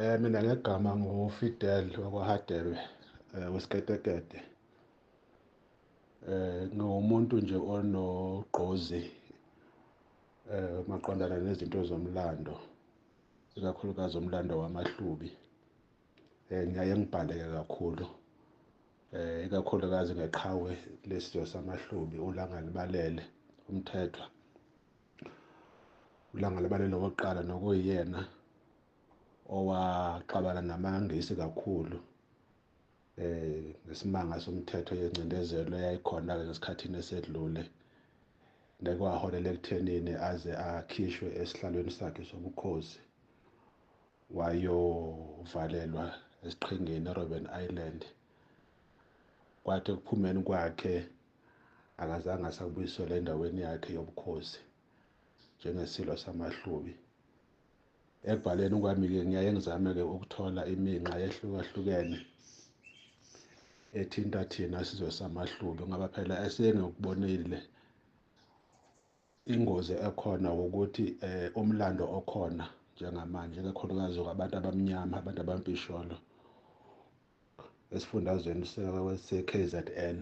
Eh mina ngegama nguFidel wakwaHadebe eh, wesiketekete. Eh ngiwumuntu nje onogqozi eh maqondana nezinto zomlando ikakhulukazi umlando wamaHlubi. Eh ngiyaye ngibhaleke kakhulu eh ikakhulukazi ngeqhawe lesizwe samahlubi ulanga libalele umthethwa ulanga libalele wokuqala nokuyena owaxabana namangisi kakhulu eh ngesimanga somthetho yencindezelo yayikhona ke ngesikhathini esedlule nekwaholela ekuthenini aze akhishwe esihlalweni sakhe sobukhosi wayovalelwa esiqhingini eRobben Island kwathi ekuphumeni kwakhe akazange asabuyisela endaweni yakhe yobukhosi njengesilo samahlubi ekubhaleni kwami-ke ngiyaye ngizame-ke ukuthola iminxa yehlukahlukene ethinta thina sizwe samahlubi ngoba phela esengikubonile Ingozi ekhona wukuthi eh, umlando okhona njengamanje kakhulukazi kwabantu abamnyama abantu abampisholo esifundazweni se-KZN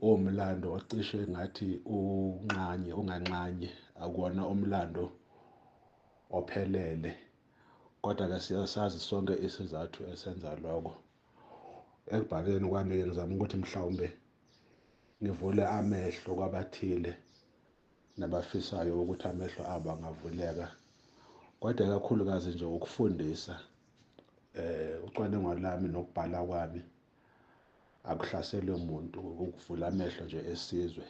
uwumlando ocishe ngathi unxanye unganxanye akuwona umlando ophelele kodwa-ke siyasazi sonke isizathu esenza lokho ekubhaleni kwami-ke ngizama ukuthi mhlawumbe ngivule amehlo kwabathile nabafisayo ukuthi amehlo abo angavuleka kodwa kakhulukazi nje ukufundisa eh ucwaningo lami nokubhala kwami akuhlaselwe muntu ukuvula amehlo nje esizwe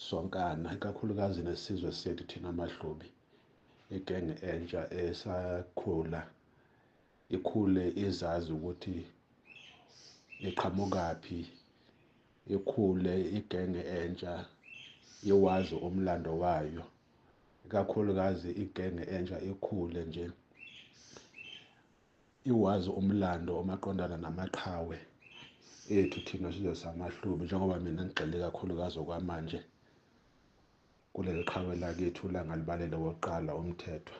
sonkana ikakhulukazi nesizwe sethu thina mahlubi igenge entsha esakhula Ikhule izazi ukuthi iqhamukaphi, ikhule igenge entsha iwazi umlando wayo, ikakhulukazi igenge entsha ikhule nje iwazi umlando omaqondana namaqhawe ethu thina sizwe samahlubi njengoba mina ngigxile kakhulukazi okwamanje kuleli qhawe lakethu langalibalele wokuqala umthethwa